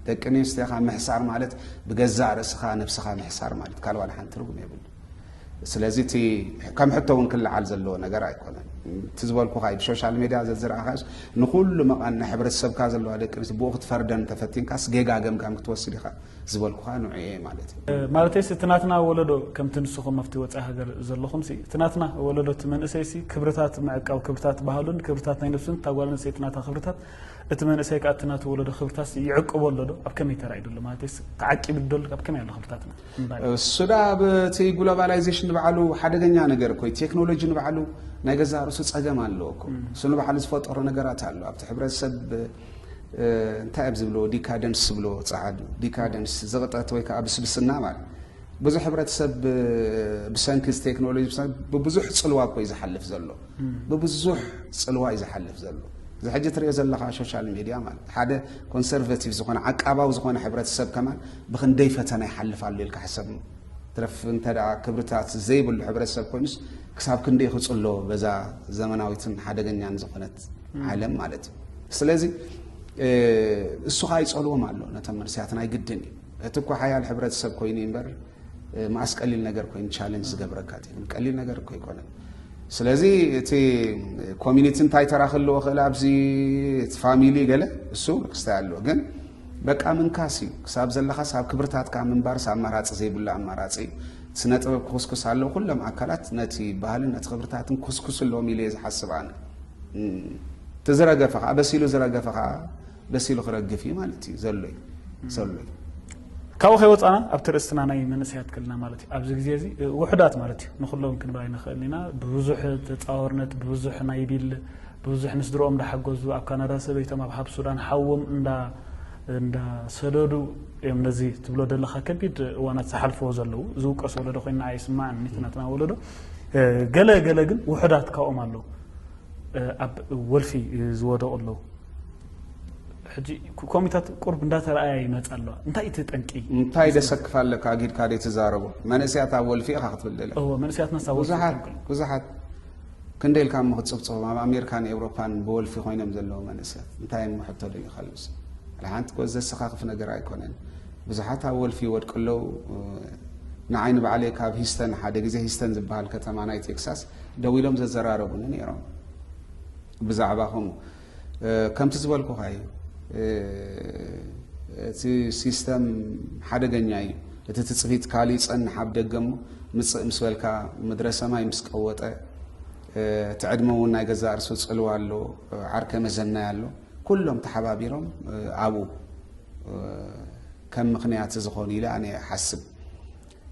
ደቂ ኣንስትዮኻ ምሕሳር ማለት ብገዛእ ርእስኻ ነብስኻ ምሕሳር ማለት ካልእ ዋላ ሓንቲ ትርጉም የብሉ ስለዚ እቲ ከም ሕቶ እውን ክልዓል ዘለዎ ነገር ኣይኮነን እቲ ዝበልኩኻ እዩ ብሶሻል ሜድያ ዘዝረኣኻስ ንኩሉ መቓን ናይ ሕብረተሰብካ ዘለዋ ደቂ ኣንስትዮ ብኡ ክትፈርደን ተፈቲንካስ ጌጋ ገምጋም ክትወስድ ኢኻ ዝበልኩኻ ንዑ እየ ማለት እዩ ማለተይሲ እቲ ናትና ወለዶ ከምቲ ንስኹም ኣብቲ ወፃኢ ሃገር ዘለኹም ሲ እቲ ናትና ወለዶ እቲ መንእሰይሲ ክብርታት ምዕቃብ ክብርታት ባህሉን ክብርታት ናይ ነብሱን እታ ጓል ኣንስተይቲ ናታ ክብርታት እቲ መንእሰይ ከኣ እቲ ናቱ ወለዶ ክብርታትስ ይዕቅቦ ኣሎ ዶ? ኣብ ከመይ ተራእዩ ዶ ኣሎ? ማለተይስ ተዓቂቡ ዶ ኣሎ? ኣብ ከመይ ኣሎ ክብርታትና? እምባለ። እሱ ደኣ ኣብ እቲ ግሎባላይዜሽን ንባዕሉ ሓደገኛ ነገር እኮ እዩ። ቴክኖሎጂ ንባዕሉ ናይ ገዛእ ርእሱ ጸገም ኣለዎ እኮ። እሱ ንባዕሉ ዝፈጠሮ ነገራት ኣሎ። ኣብቲ ሕብረተሰብ እንታይ ኣብ ዝብልዎ ዲካደንስ ዝብልዎ ጸዓዱ ዲካደንስ ዝቕጠት ወይ ከኣ ብስብስና ማለት ብዙሕ ሕብረተሰብ ብሰንኪ እዚ ቴክኖሎጂ ብሰንኪ ብብዙሕ ጽልዋ እኮ እዩ ዝሓልፍ ዘሎ። ብብዙሕ ጽልዋ እዩ ዝሓልፍ ዘሎ። እዚ ሕጂ ትሪኦ ዘለኻ ሾሻል ሚድያ ማለት ሓደ ኮንሰርቨቲቭ ዝኾነ ዓቃባዊ ዝኾነ ሕብረተሰብ ከማን ብክንደይ ፈተና ይሓልፍ ኣሎ ኢልካ ሕሰብ። ትረፍ እንተ ክብርታት ዘይብሉ ሕብረተሰብ ኮይኑስ ክሳብ ክንደይ ክጽሎ በዛ ዘመናዊትን ሓደገኛን ዝኾነት ዓለም ማለት እዩ። ስለዚ እሱ ከዓ ይጸልዎም ኣሎ ነቶም መንስያት ናይ ግድን እዩ እቲ እኳ ሓያል ሕብረተሰብ ኮይኑ እምበር መዓስ ቀሊል ነገር ኮይኑ ቻለንጅ ዝገብረካ እቲ ግን ቀሊል ነገር እኮ ኣይኮነን ስለዚ እቲ ኮሚኒቲ እንታይ ተራ ክህልዎ ክእል ኣብዚ እቲ ፋሚሊ ገለ እሱ ክስታይ ኣለዎ ግን በቃ ምንካስ እዩ ክሳብ ዘለካ ሳብ ክብርታትካ ምንባር ሳብ ኣማራፂ ዘይብሉ ኣማራፂ እዩ ስነ ጥበብ ክኩስኩስ ኣለዎ ኩሎም ኣካላት ነቲ ባህልን ነቲ ክብርታትን ክኩስኩስ ኣለዎም ኢለ ዝሓስብ ኣነ እቲ ዝረገፈ ከዓ በሲሉ ዝረገፈ ከዓ ደስ ኢሉ ክረግፍ እዩ ማለት እዩ ዘሎይ ሰሎይ ካብኡ ከይወፃና ኣብቲ ርእስትና ናይ መንእሰያት ከለና ማለት እዩ ኣብዚ ግዜ እዚ ውሕዳት ማለት እዩ ንኩሎም ክንብል ኣይንኽእል ኢና ብብዙሕ ተፃወርነት ብብዙሕ ናይ ቢል ብብዙሕ ምስ ድሮኦም እንዳሓገዙ ኣብ ካናዳ ሰበይቶም ኣብ ሃብ ሱዳን ሓዎም እንዳ እንዳሰደዱ እዮም ነዚ ትብሎ ዘለካ ከቢድ እዋናት ዝሓልፈዎ ዘለዉ ዝውቀስ ወለዶ ኮይና ኣይስማዕን ናትና ወለዶ ገለ ገለ ግን ውሑዳት ካብኦም ኣለዉ ኣብ ወልፊ ዝወደቑ ኣለዉ። ሕጂ ኮሚታት ቁርብ እንዳተረኣያ ይመጻ ኣለዋ። እንታይ እቲ ጠንቂ? እንታይ ደሰክፍ ኣለካ ጊድካ ደይ ትዛረቦ መንእስያት ኣብ ወልፊ ኢኻ ክትብል ደለካ። እወ መንእስያትና ሳብ ወልፊ ብዙሓት ብዙሓት ክንደይ ኢልካ እሞ ክትጽብጽቦም ኣብ ኣሜሪካን ኤውሮፓን ብወልፊ ኮይኖም ዘለዉ መንእስያት እንታይ እሞ ሕቶ ደዩ ካልኡስ ሓንቲ ኮ ዘሰካክፍ ነገር ኣይኮነን ብዙሓት ኣብ ወልፊ ይወድቁ ኣለዉ ንዓይ ንባዕለይ ካብ ሂስተን ሓደ ግዜ ሂስተን ዝበሃል ከተማ ናይ ቴክሳስ ደው ኢሎም ዘዘራረቡኒ ነይሮም ብዛዕባ ከምኡ ከምቲ ዝበልኩኻ እዩ እቲ ሲስተም ሓደገኛ እዩ እቲ ትፅቢት ካሊእ ፀንሕ ኣብ ደገ እሞ ምፅእ ምስ በልካ ምድረ ሰማይ ምስ ቀወጠ እቲ ዕድመ እውን ናይ ገዛ እርሱ ፅልዋ ኣሎ ዓርከ መዘናይ ኣሎ ኩሎም ተሓባቢሮም ኣብኡ ከም ምክንያት ዝኾኑ ኢለ ኣነ ሓስብ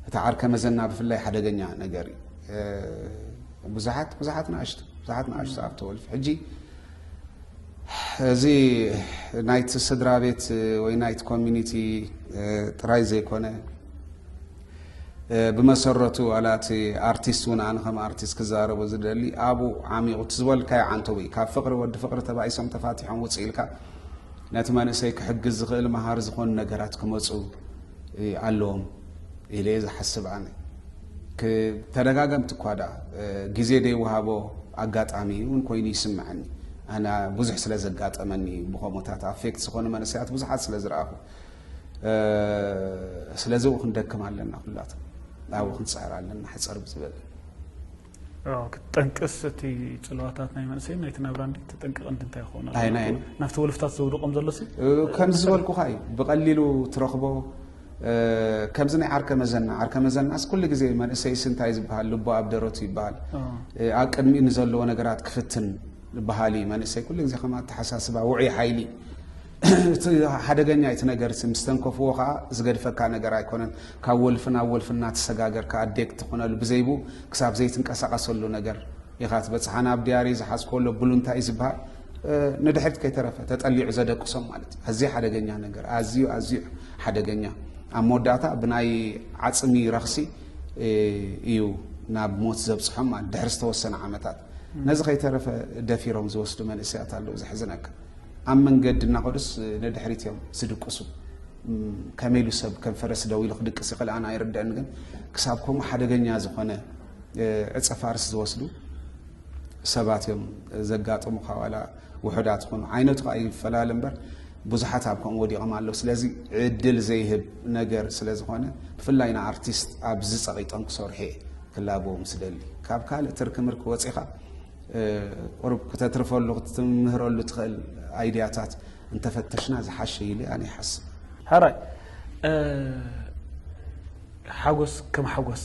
እቲ ዓርከ መዘና ብፍላይ ሓደገኛ ነገር እዩ። ብዙሓት ብዙሓት ንኣሽቱ ብዙሓት ንኣሽቱ ኣብ ተወልፊ ሕጂ እዚ ናይቲ ስድራ ቤት ወይ ናይቲ ኮሚኒቲ ጥራይ ዘይኮነ ብመሰረቱ ዋላ እቲ ኣርቲስት እውን ኣነ ከም ኣርቲስት ክዛረቦ ዝደሊ ኣብኡ ዓሚቑ እቲ ዝበልካዮ ዓንተው እዩ ካብ ፍቕሪ ወዲ ፍቕሪ ተባኢሶም ተፋቲሖም ውፅእ ኢልካ ነቲ መንእሰይ ክሕግዝ ዝኽእል መሃር ዝኾኑ ነገራት ክመፁ ኣለዎም ኢለ እየ ዝሓስብ ኣነ ተደጋገምቲ እኳ ዳ ግዜ ዘይወሃቦ ኣጋጣሚ እውን ኮይኑ ይስምዐኒ ኣነ ብዙሕ ስለ ዘጋጠመኒ ብከምኡታት ኣፌክት ዝኾኑ መንእሰያት ብዙሓት ስለ ዝረኣኹ ስለዚ ው ክንደክም ኣለና ኩላቶ ኣብኡ ክንፅዕር ኣለና ሕፀር ብዝበለ ክትጠንቅስ እቲ ፅልዋታት ናይ መንእሰይን ናይቲ ናብራ እንዲ ተጠንቅቕ እንዲ እንታይ ክኾኑ ናብቲ ወልፍታት ዘውድቖም ዘሎ ከምዚ ዝበልኩኻ እዩ ብቐሊሉ ትረኽቦ ከምዚ ናይ ዓርከ መዘና ዓርከ መዘናስ ኩሉ ግዜ መንእሰይ ስንታይ ዝበሃል ልቦ ኣብ ደረቱ ይበሃል ኣብ ቅድሚ ንዘለዎ ነገራት ክፍትን በሃሊ መንእሰይ ኩሉ ግዜ ከም ኣተሓሳስባ ውዑይ ሓይሊ እቲ ሓደገኛ እዩ እቲ ነገር እቲ ምስ ተንከፍዎ ከዓ ዝገድፈካ ነገር ኣይኮነን ካብ ወልፊ ናብ ወልፊ እናተሰጋገርካ ኣዴክት ትኾነሉ ብዘይቡ ክሳብ ዘይትንቀሳቐሰሉ ነገር ኢኻ ትበፅሕ ኣነ ኣብ ድያሪ ዝሓዝኮሎ ብሉንታ እዩ ዝበሃል ንድሕሪት ከይተረፈ ተጠሊዑ ዘደቅሶም ማለት እዩ ኣዝዩ ሓደገኛ ነገር ኣዝዩ ኣዝዩ ሓደገኛ ኣብ መወዳእታ ብናይ ዓፅሚ ረኽሲ እዩ ናብ ሞት ዘብፅሖም ማለት ድሕሪ ዝተወሰነ ዓመታት ነዚ ከይተረፈ ደፊሮም ዝወስዱ መንእሰያት ኣለዉ ዘሕዝነካ ኣብ መንገዲ እናኸዱስ ነድሕሪት እዮም ዝድቅሱ። ከመይ ኢሉ ሰብ ከም ፈረስ ደው ኢሉ ክድቅስ ይኽእል ኣነ ኣይርድአን። ግን ክሳብ ከምኡ ሓደገኛ ዝኾነ ዕፀ ፋርስ ዝወስዱ ሰባት እዮም ዘጋጥሙ ካብ ዋላ ውሑዳት ይኹኑ ዓይነቱ ከዓ ይፈላለ እምበር ብዙሓት ኣብ ከምኡ ወዲቖም ኣለዉ ስለዚ ዕድል ዘይህብ ነገር ስለ ዝኾነ ብፍላይ ንኣርቲስት ኣብዚ ፀቒጦም ክሰርሑ እየ ክላበዎም ስደሊ ካብ ካልእ ትርኪ ምርኪ ወፂኻ ቁሩብ ክተትርፈሉ ክትምህረሉ ትኽእል ኣይድያታት እንተፈተሽና ዝሓሸ ኢለ ኣነ ይሓስብ። ሕራይ ሓጎስ ከም ሓጎስ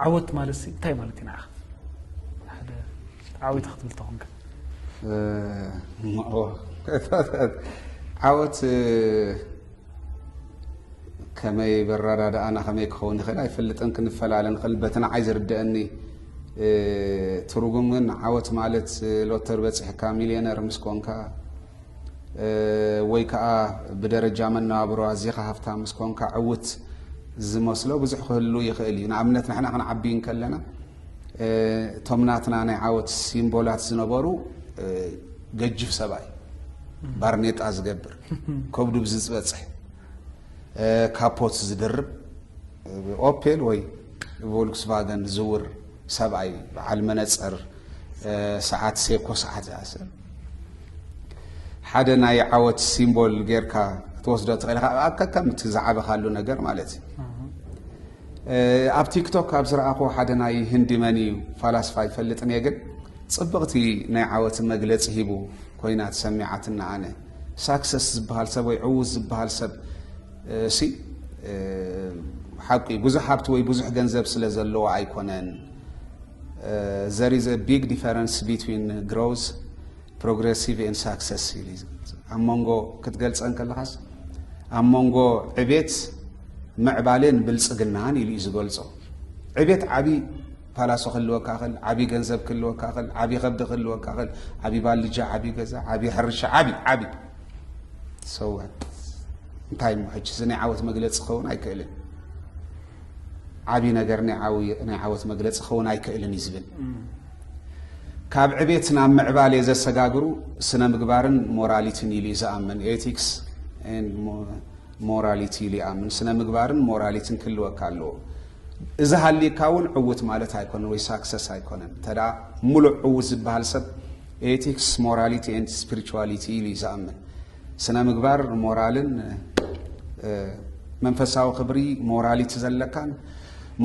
ዓወት ማለት ሲ እንታይ ማለት እዩ ንዓኻ? ሓደ ዓወት ክትብል ተኾንካ ዓወት ከመይ በረዳድኣና ከመይ ክኸውን ይኽእል ኣይፈልጥን ክንፈላለ ንኽእል በቲ ንዓይ ዝርድኣኒ ትርጉም ግን ዓወት ማለት ሎተር በፂሕካ ሚልዮነር ምስ ኮንካ ወይ ከዓ ብደረጃ መነባብሮ ኣዚኻ ሃፍታ ምስ ኮንካ ዕውት ዝመስሎ ብዙሕ ክህሉ ይኽእል እዩ ንኣብነት ንሕና ክንዓቢ ከለና እቶም ናትና ናይ ዓወት ሲምቦላት ዝነበሩ ገጅፍ ሰብኣይ ባርኔጣ ዝገብር ከብዱ ብዝፅበፅሕ ካፖት ዝድርብ ኦፔል ወይ ብቮልክስቫገን ዝዝውር ሰብኣይ በዓል መነፀር ሰዓት ሴኮ ሰዓት እያ ሰብ ሓደ ናይ ዓወት ሲምቦል ጌርካ ክትወስዶ ትኽእል ኢኻ ከከም እቲ ዝዓበኻሉ ነገር ማለት እዩ ኣብ ቲክቶክ ኣብ ዝረኣኹ ሓደ ናይ ህንዲ መን እዩ ፋላስፋ ይፈልጥን እየ ግን ጽብቕቲ ናይ ዓወት መግለጺ ሂቡ ኮይና ተሰሚዓትና ኣነ ሳክሰስ ዝበሃል ሰብ ወይ ዕዉት ዝበሃል ሰብ እሲ ሓቁ እዩ ብዙሕ ሃብቲ ወይ ብዙሕ ገንዘብ ስለ ዘለዎ ኣይኮነን ዘር ኢዝ አ ቢግ ዲፈረንስ ቢትዊን ግሮዝ ፕሮግረሲቭ ን ሳክሰስ ኣብ መንጎ ክትገልፀን ከለኻስ ኣብ መንጎ ዕቤት ምዕባሌን ብልፅግናን ኢሉ እዩ ዝገልፆ ዕቤት ዓብዪ ፓላሶ ክህልወካ ኽእል ዓብዪ ገንዘብ ክህልወካ ኽእል ዓብዪ ከብዲ ክህልወካ ኽእል ዓብዪ ባልጃ ዓብዪ ገዛ ዓብዪ ሕርሻ ዓብዪ ዓብዪ ሰወት እንታይ እሞ ሕጂ እዚ ናይ ዓወት መግለፂ ክኸውን ኣይክእልን ዓብዪ ነገር ናይ ዓወት መግለፂ ክኸውን ኣይክእልን እዩ ዝብል ካብ ዕቤት ናብ ምዕባሌ ዘሰጋግሩ ስነ ምግባርን ሞራሊቲን ኢሉ እዩ ዝኣምን ኤቲክስ ሞራሊቲ ኢሉ ይኣምን ስነ ምግባርን ሞራሊቲን ክህልወካ ኣለዎ እዚ ሃሊካ እውን ዕውት ማለት ኣይኮነን ወይ ሳክሰስ ኣይኮነን እንተ ሙሉእ ዕውት ዝበሃል ሰብ ኤቲክስ ሞራሊቲ ኤንድ ስፒሪቹዋሊቲ ኢሉ እዩ ዝኣምን። ስነ ምግባር ሞራልን መንፈሳዊ ክብሪ ሞራሊቲ ዘለካን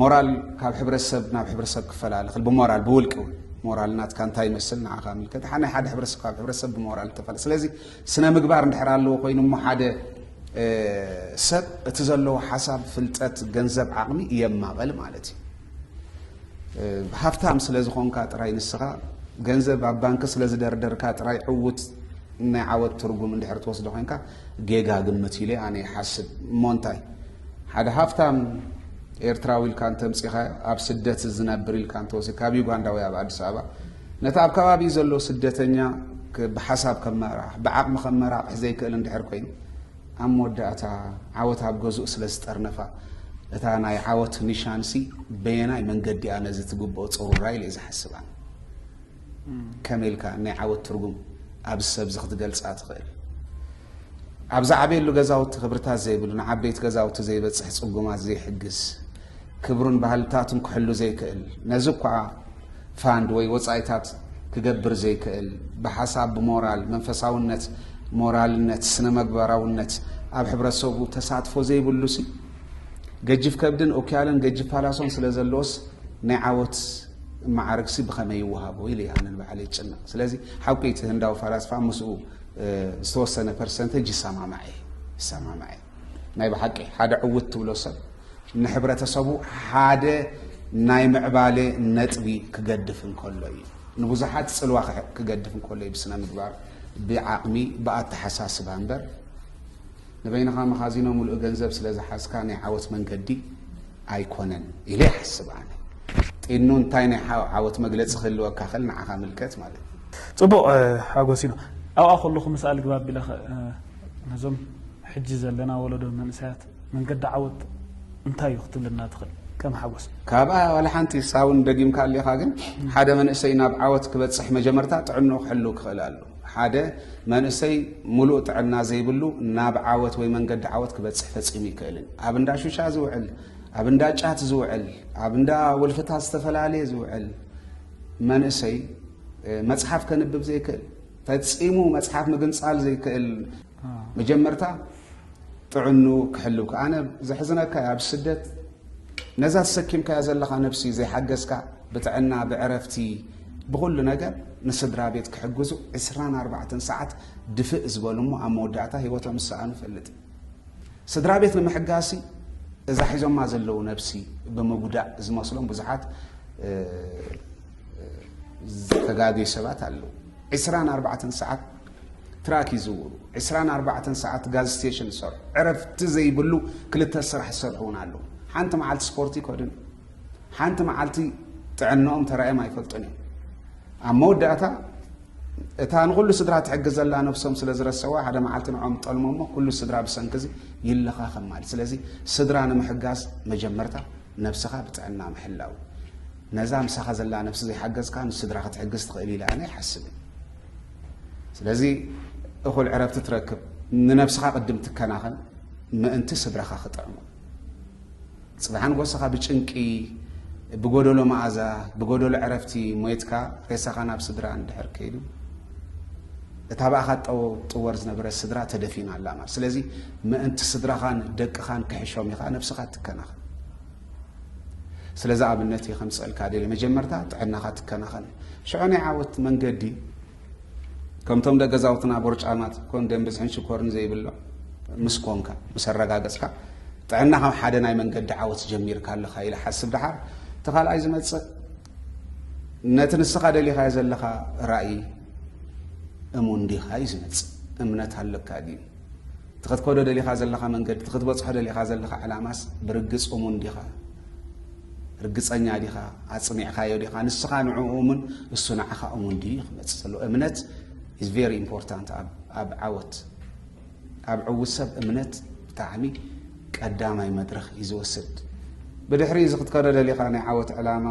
ሞራል ካብ ሕብረተሰብ ናብ ሕብረተሰብ ክፈላለ ክል ብሞራል ብውልቂ እውን ሞራል ናትካ እንታይ ይመስል ንዓኻ ምልከት ናይ ሓደ ሕብረተሰብ ካብ ሕብረተሰብ ብሞራል ተፈለ ስለዚ ስነ ምግባር እንድሕር ኣለዎ ኮይኑ እሞ ሓደ ሰብ እቲ ዘለዎ ሓሳብ ፍልጠት ገንዘብ ዓቕሚ የማቐል ማለት እዩ ሃፍታም ስለዝኾንካ ጥራይ ንስኻ ገንዘብ ኣብ ባንኪ ስለዝደርደርካ ጥራይ ዕውት ናይ ዓወት ትርጉም እንድሕር ትወስዶ ኮንካ ጌጋ ግምት ኢለ ኣነ ይሓስብ እሞ እንታይ ሓደ ሃፍታም ኤርትራዊ ኢልካ እንተምፂኻ ኣብ ስደት ዝነብር ኢልካ እንተወሲ ካብ ዩጋንዳ ወይ ኣብ ኣዲስ ኣበባ ነቲ ኣብ ከባቢ ዘሎ ስደተኛ ብሓሳብ ከመራራሕ ብዓቕሚ ከመራቕሕ ዘይክእል እንድሕር ኮይኑ ኣብ መወዳእታ ዓወት ኣብ ገዝኡ ስለ ዝጠርነፋ እታ ናይ ዓወት ኒሻንሲ በየናይ መንገዲ እያ ነዚ ትግብኦ ፅሩራ ኢለ እዩ ዝሓስባ ከመይ ኢልካ ናይ ዓወት ትርጉም ኣብዚ ሰብ እዚ ክትገልፃ ትኽእል ኣብ ዝዓበየሉ ገዛውቲ ክብርታት ዘይብሉ ንዓበይቲ ገዛውቲ ዘይበፅሕ ፅጉማት ዘይሕግዝ ክብሩን ባህልታቱን ክሕሉ ዘይክእል፣ ነዚ እኳ ፋንድ ወይ ወጻኢታት ክገብር ዘይክእል፣ ብሓሳብ ብሞራል መንፈሳውነት፣ ሞራልነት፣ ስነ-መግባራውነት ኣብ ሕብረተሰቡ ተሳትፎ ዘይብሉሲ፣ ገጅፍ ከብድን ኡክያልን ገጅፍ ፓላሶን ስለ ዘሎዎስ ናይ ዓወት መዓርግሲ ብኸመይ ይወሃቦ ኢሉ እዩ ኣነ ንባዕለይ ዝጭነቕ። ስለዚ ሓቁ እዩ እቲ ህንዳዊ ፈላስፋ ምስኡ ዝተወሰነ ፐርሰንተጅ ይሰማማዕ እየ ይሰማማዕ እየ። ናይ ብሓቂ ሓደ ዕውት ትብሎ ሰብ ንሕብረተሰቡ ሓደ ናይ ምዕባለ ነጥቢ ክገድፍ እንከሎ እዩ ንብዙሓት ጽልዋ ክገድፍ እንከሎ እዩ ብስነ ምግባር ብዓቕሚ ብኣተሓሳስባ እምበር ንበይንኻ መኻዚኖ ምሉእ ገንዘብ ስለ ዝሓዝካ ናይ ዓወት መንገዲ ኣይኮነን ኢለ ይሓስብ ኣነ ጢኑ እንታይ ናይ ዓወት መግለፂ ክህልወካ ክእል ንዓኻ ምልከት ማለት እዩ ፅቡቕ ሓጎሲኖ ኣብኣ ከለኹ ምስኣል ግባብ ቢለ ነዞም ሕጂ ዘለና ወለዶ መንእሰያት መንገዲ ዓወት እንታይ እዩ ክትብለና ትኽእል ከም ሓጎስ? ካብኣ ዋላ ሓንቲ ንሳ እውን ደጊምካ ኣሊኻ ግን ሓደ መንእሰይ ናብ ዓወት ክበጽሕ መጀመርታ ጥዕንኡ ክሕልው ክኽእል ኣሎ። ሓደ መንእሰይ ሙሉእ ጥዕና ዘይብሉ ናብ ዓወት ወይ መንገዲ ዓወት ክበጽሕ ፈጺሙ ይክእልን። ኣብ እንዳ ሹሻ ዝውዕል፣ ኣብ እንዳ ጫት ዝውዕል፣ ኣብ እንዳ ወልፍታት ዝተፈላለየ ዝውዕል መንእሰይ መጽሓፍ ከንብብ ዘይክእል ፈጺሙ መጽሓፍ ምግንጻል ዘይክእል መጀመርታ ጥዕኑ ክሕልው ከ ኣነ ዘሕዝነካ እያ ኣብ ስደት ነዛ ተሰኪምካያ ዘለኻ ነብሲ ዘይሓገዝካ ብጥዕና ብዕረፍቲ ብኹሉ ነገር ንስድራ ቤት ክሕግዙ 24 ሰዓት ድፍእ ዝበሉ እሞ ኣብ መወዳእታ ህይወቶም ዝሰኣኑ ፈልጥ ስድራ ቤት ንምሕጋሲ እዛ ሒዞማ ዘለው ነብሲ ብምጉዳእ ዝመስሎም ብዙሓት ዝተጋገዩ ሰባት ኣለው። 24 ሰዓት ትራክ ይዝውሩ፣ 24 ሰዓት ጋዝ ስቴሽን ይሰርሑ፣ ዕረፍቲ ዘይብሉ ክልተ ስራሕ ዝሰርሑ እውን ኣለው። ሓንቲ መዓልቲ ስፖርቲ ይከዱን ሓንቲ መዓልቲ ጥዕንኦም ተራእዮም ኣይፈልጡን እዮም። ኣብ መወዳእታ እታ ንኹሉ ስድራ ትሕግዝ ዘላ ነብሶም ስለ ዝረሰዋ ሓደ መዓልቲ ንዖም ጠልሞ እሞ ኩሉ ስድራ ብሰንኪ እዚ ይለኻኸም ማለት ስለዚ ስድራ ንምሕጋዝ መጀመርታ ነብስኻ ብጥዕና ምሕላው ነዛ ምሳኻ ዘላ ነብሲ ዘይሓገዝካ ንስድራ ክትሕግዝ ትኽእል ኢለ ኣነ ይሓስብን ስለዚ እኹል ዕረፍቲ ትረክብ ንነብስኻ ቅድም ትከናኸን ምእንቲ ስድራኻ ክጥዕሙ ጽባሕ ኣንጎሰኻ ብጭንቂ ብጎደሎ መኣዛ ብጎደሎ ዕረፍቲ ሞይትካ ሬሳኻ ናብ ስድራ እንድሕር ከይዱ እታ ብኣኻ ጠወር ዝነበረት ስድራ ተደፊና ኣላ ማለት ስለዚ ምእንቲ ስድራኻን ደቅኻን ክሕሾም ኢኻ ነብስኻ ትከናኸን ስለዚ ኣብነት እየ ከምፅእልካ ደለ መጀመርታ ጥዕናኻ ትከናኸን ሽዑ ናይ ዓወት መንገዲ ከምቶም ደገዛውትና ቦርጫማት ኮን ደም ብዝሕን ሽኮርን ዘይብሎ ምስ ኮንካ ምስ ኣረጋገጽካ ጥዕና ካብ ሓደ ናይ መንገዲ ዓወት ጀሚርካ ኣለኻ ኢለ ሓስብ ደሓር እቲ ካልኣይ ዝመጽእ ነቲ ንስኻ ደሊኻዮ ዘለኻ ራእይ እሙን ዲኻ እዩ ዝመጽእ እምነት ኣለካ ድዩ እቲ ክትከዶ ደሊኻ ዘለኻ መንገዲ፣ እቲ ክትበጽሖ ደሊኻ ዘለኻ ዕላማስ ብርግጽ እሙን ዲኻ? ርግጸኛ ዲኻ? ኣጽኒዕካዮ ዲኻ? ንስኻ ንዕኡ እሙን፣ እሱ ንዓኻ እሙን ድዩ? ክመጽእ ዘለዎ እምነት ኢዝ ቬሪ ኢምፖርታንት ኣብ ዓወት። ኣብ ዕዉት ሰብ እምነት ብጣዕሚ ቀዳማይ መድረኽ እዩ ዝወስድ። ብድሕሪ እዚ ክትከዶ ደሊኻ ናይ ዓወት ዕላማ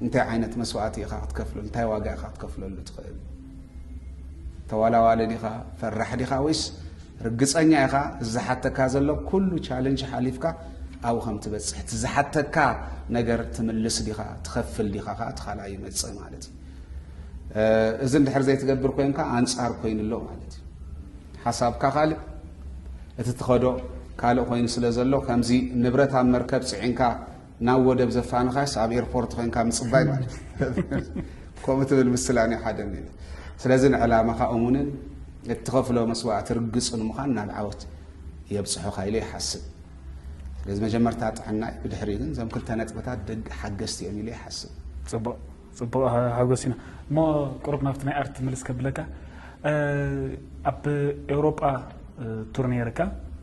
እንታይ ዓይነት መስዋእቲ ኢኻ ክትከፍለሉ፣ እንታይ ዋጋ ኢኻ ክትከፍለሉ ትኽእል? ተዋላዋሊ ዲኻ ፈራሕ ዲኻ ወይስ ርግጸኛ ኢኻ እዚ ዝሓተካ ዘሎ ኩሉ ቻለንጅ ሓሊፍካ ኣብኡ ከም ትበጽሕ እቲ ዝሓተካ ነገር ትምልስ ዲኻ ትኸፍል ዲኻ ከዓ እቲ ካልኣ ይመጽእ ማለት እዩ እዚ እንድሕር ዘይትገብር ኮንካ ኣንጻር ኮይኑ ኣሎ ማለት እዩ ሓሳብካ ካልእ እቲ ትኸዶ ካልእ ኮይኑ ስለ ዘሎ ከምዚ ንብረት ኣብ መርከብ ፅዒንካ ናብ ወደብ ዘፋንኻስ ኣብ ኤርፖርት ኮንካ ምጽባይ ማለት ከምኡ ትብል ምስላ ናይ ሓደ ስለዚ ንዕላማኻ እሙንን እትኸፍሎ መስዋእቲ ርግጽን ምዃን ናብ ዓወት የብጽሑኻ ኢለ ይሓስብ ስለዚ መጀመርታ ጥዕና እዩ ብድሕሪ ግን እዞም ክልተ ነጥብታት ደግ ሓገዝቲ እዮም ኢለ ይሓስብ ፅቡቅ ፅቡቅ ሓጎስ ኢና እሞ ቅሩብ ናብቲ ናይ ኣርት ምልስ ከብለካ ኣብ ኤውሮጳ ቱር ነይርካ